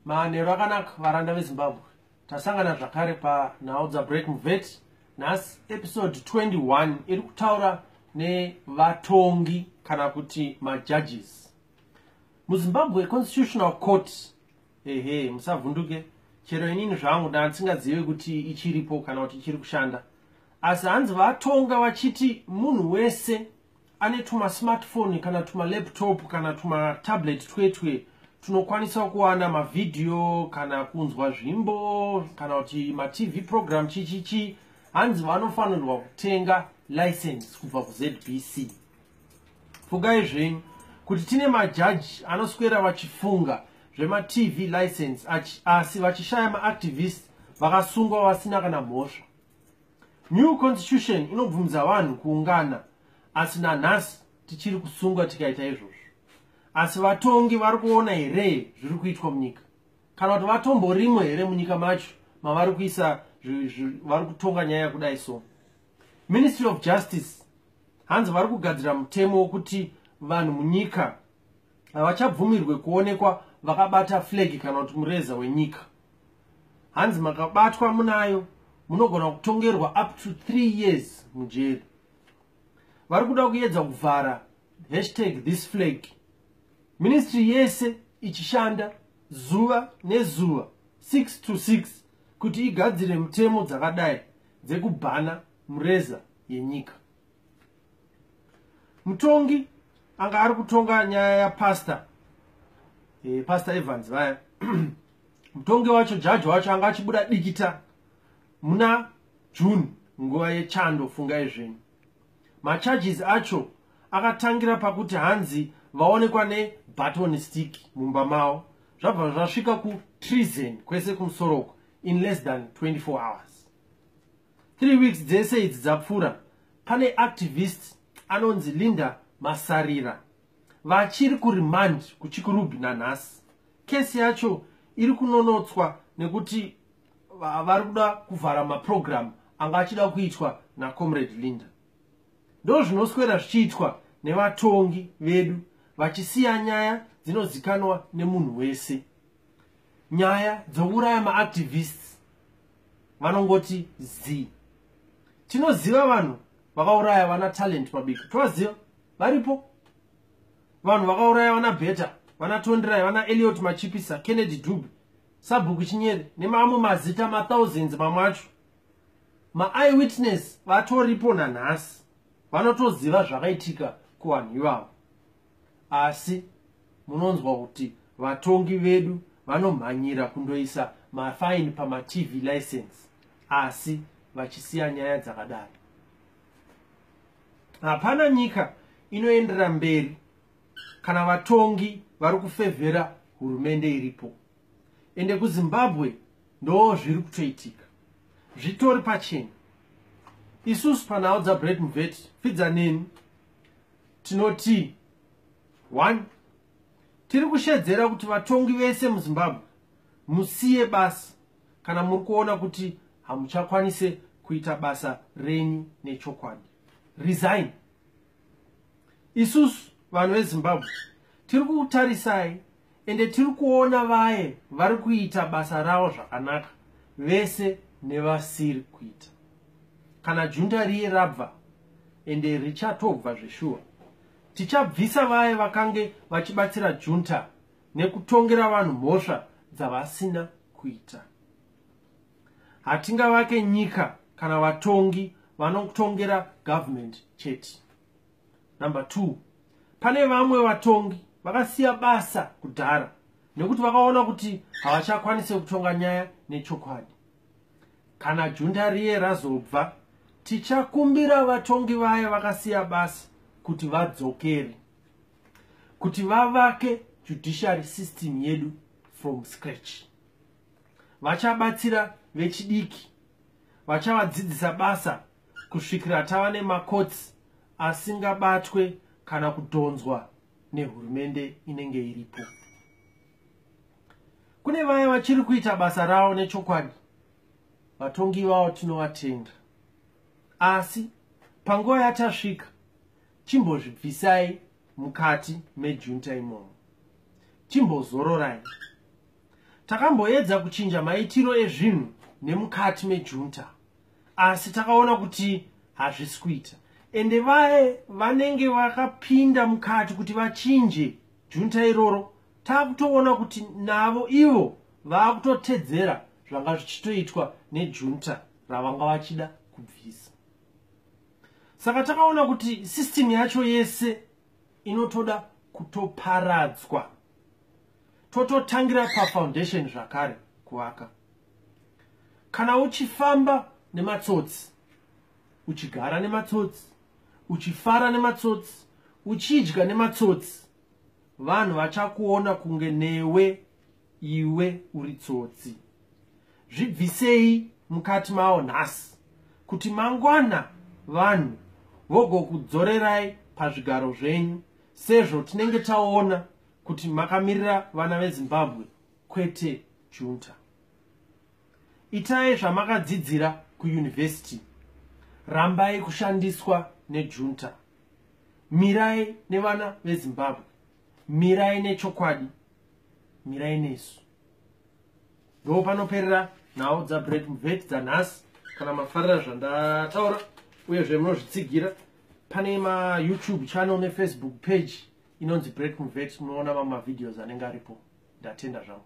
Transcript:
manheru akanaka varanda vezimbabwe tasangana zvakare panhau dzabreak muvet nhasi episode 21 iri kutaura nevatongi kana kuti majudges muzimbabwe constitutional court ehe musavhunduke chero inini zvangu ndandisingazive kuti ichiripo kana kuti ichiri kushanda asi hanzi vatonga vachiti munhu wese ane tumasmartphone kana tumalaptop kana tumatablet twetwe tunokwanisa kuwana mavhidhiyo kana kunzwa zvimbo kana kuti matv program chichichi hanzi vanofanirwa kutenga license kubva kuzbc pfugai zvenyu kuti tine majaji anoswera vachifunga zvematv license asi vachishaya maactivist vakasungwa vasina kana mhosva New constitution inobvumidza vanhu kuungana asi nanhasi tichiri kusungwa tikaita izvozvo asi vatongi vari kuona here zviri kuitwa munyika kana kuti vatomborimo here munyika macho mavari kuisa vari kutonga nyaya kudai so ministry of justice hanzi vari kugadzira mutemo wokuti vanhu munyika havachabvumirwe kuonekwa vakabata flegi kana kuti mureza wenyika hanzi makabatwa munayo munogona kutongerwa up to three years mujeri vari kuda kuedza kuvhara hashtag this flag ministry yese ichishanda zuva nezuva 6 to 6 kuti igadzire mutemo dzakadai dzekubhana mureza yenyika mutongi anga ari kutonga nyaya yapastor e, pastor evans vaya mutongi wacho jaji wacho anga achibuda dikita muna june nguva yechando fungai zvenyu macharges acho akatangira pakuti hanzi vaonekwa nebaton stick mumba mavo zvabva zvasvika kutreason kwese kumusoroko in less than 24 hours 3 weeks dzese idzi dzapfuura pane activist anonzi linda masarira vachiri kuremand kuchikurubi nanhasi kesi yacho iri kunonotswa nekuti vari kuda kuvhara maprogramu anga achida kuitwa nacomrade linda ndo zvinoswera zvichiitwa nevatongi vedu vachisiya nyaya dzinozikanwa nemunhu wese nyaya dzouraya maactivists vanongoti z tinoziva vanhu vakauraya vana talent mabiko tovaziva varipo vanhu vakauraya vana beta vana tondirai vana eliot machipisa kennedy dube sabhuku chinyere nemamwe mazita mathousands mamwe acho maeye witness vatoripo nanhasi vanotoziva zvakaitika kuvanhu ivavo asi munonzwa kuti vatongi vedu vanomhanyira kundoisa mafaini pamatv license asi vachisiya nyaya dzakadaro hapana nyika inoendera mberi kana vatongi vari kufevhera hurumende iripo ende kuzimbabwe ndoo zviri kutoitika zvitori pachena isusu panhau dzabret mveti pfidza neni tinoti one tiri kushedzera kuti vatongi vese muzimbabwe musiye basa kana muri kuona kuti hamuchakwanise kuita basa renyu nechokwadi resign isusu vanhu vezimbabwe tiri kukutarisai ende tiri kuona vaye vari kuita basa ravo zvakanaka vese nevasiri kuita kana junta riye rabva ende richatobva zveshuwa tichabvisa vaye vakange vachibatsira junta nekutongera vanhu mhosva dzavasina kuita hatingavake nyika kana vatongi vanotongera government chete Number two, pane vamwe vatongi vakasiya basa kudhara nekuti vakaona kuti havachakwanise kutonga nyaya nechokwadi. Kana junda riye razobva, tichakumbira vatongi vaya vakasiya basa kuti vadzokere, kuti vavake judiciary system yedu from scratch. Vachabatsira vechidiki, vachavadzidzisa basa kusvikira tava nemakotsi asingabatwe kana kudhonzwa nehurumende inenge iripo kune vaya vachiri kuita basa ravo nechokwadi vatongi vavo tinovatenda asi panguva yatasvika chimbozvibvisai mukati mejunta imomo chimbozororai takamboedza kuchinja maitiro ezvinhu nemukati mejunta asi takaona kuti hazvisi kuita ende vaye vanenge vakapinda mukati kuti vachinje junta iroro takutoona kuti navo ivo vakutotedzera zvanga zvichitoitwa nejunta ravanga vachida kubvisa saka takaona kuti system yacho yese inotoda kutoparadzwa tototangira pafoundation zvakare kuvaka kana uchifamba nematsotsi uchigara nematsotsi uchifara nematsotsi uchidya nematsotsi vanhu vachakuona kunge newe iwe uri tsotsi zvibvisei mukati mawo nhasi kuti mangwana vanhu vogokudzorerai pazvigaro zvenyu sezvo tinenge taona kuti makamirira vana vezimbabwe kwete junta itai zvamakadzidzira kuuniversity rambai kushandiswa nejunta mirai nevana vezimbabwe mirai nechokwadi mirai nesu ndo panoperera nhau dzabreak mvet dzanhasi kana mafarira zvandataura uyezve munozvitsigira pane mayoutube channel nefacebook page inonzi break mvet munoona mamwe mavideos anenge aripo ndatenda zvangu